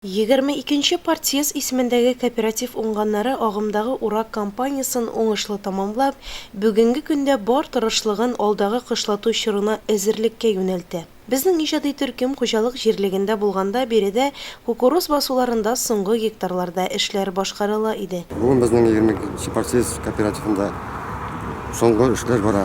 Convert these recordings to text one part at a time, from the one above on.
Егерме икенче партсъезд исемендәге кооператив уңганнары агымдагы урак кампаниясен уңышлы тәмамлап, бүгенге көндә бар тырышлыгын алдагы кышлату чорына әзерлеккә юнәлтә. Безнең иҗади төркем хуҗалык җирлегендә булганда биредә кукуруз басуларында соңгы гектарларда эшләр башкарыла иде. Бүген безнең егерме икенче партсъезд кооперативында соңгы эшләр бара.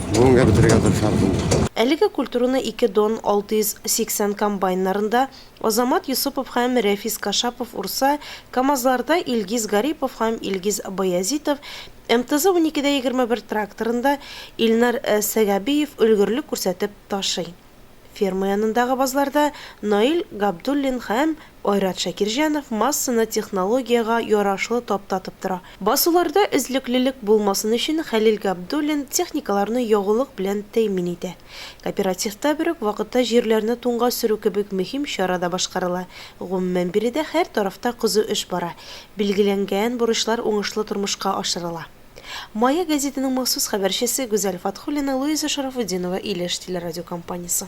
бүгенгә бетерергә тырышабыз инде. Әлеге культураны ике Дон 680 комбайннарында Азамат Йосыпов һәм Рәфис Кашапов урса, КАМАЗларда Илгиз Гарипов һәм Илгиз Баязитов, МТЗ-12 дә егерме бер тракторында Илнар Сәгабиев өлгерлек күрсәтеп ташый. Ферма янындагы базларда Наил Габдуллин һәм Айрат Шакирҗанов массаны технологиягә ярашлы таптатып тора. Басуларда өзлеклелек булмасын өчен Хәлил Габдуллин техникаларны ягулык белән тәэмин итә. Кооперативта бер үк вакытта җирләрне туңга сөрү кебек мөһим чара да башкарыла. Гомумән, биредә һәр тарафта кызу эш бара. Билгеләнгән бурычлар уңышлы тормышка ашырыла. Мая гәзитенең махсус хәбәрчесе Гүзәл Фатхуллина Луиза Шарафутдинова Илеш телерадиокомпаниясе.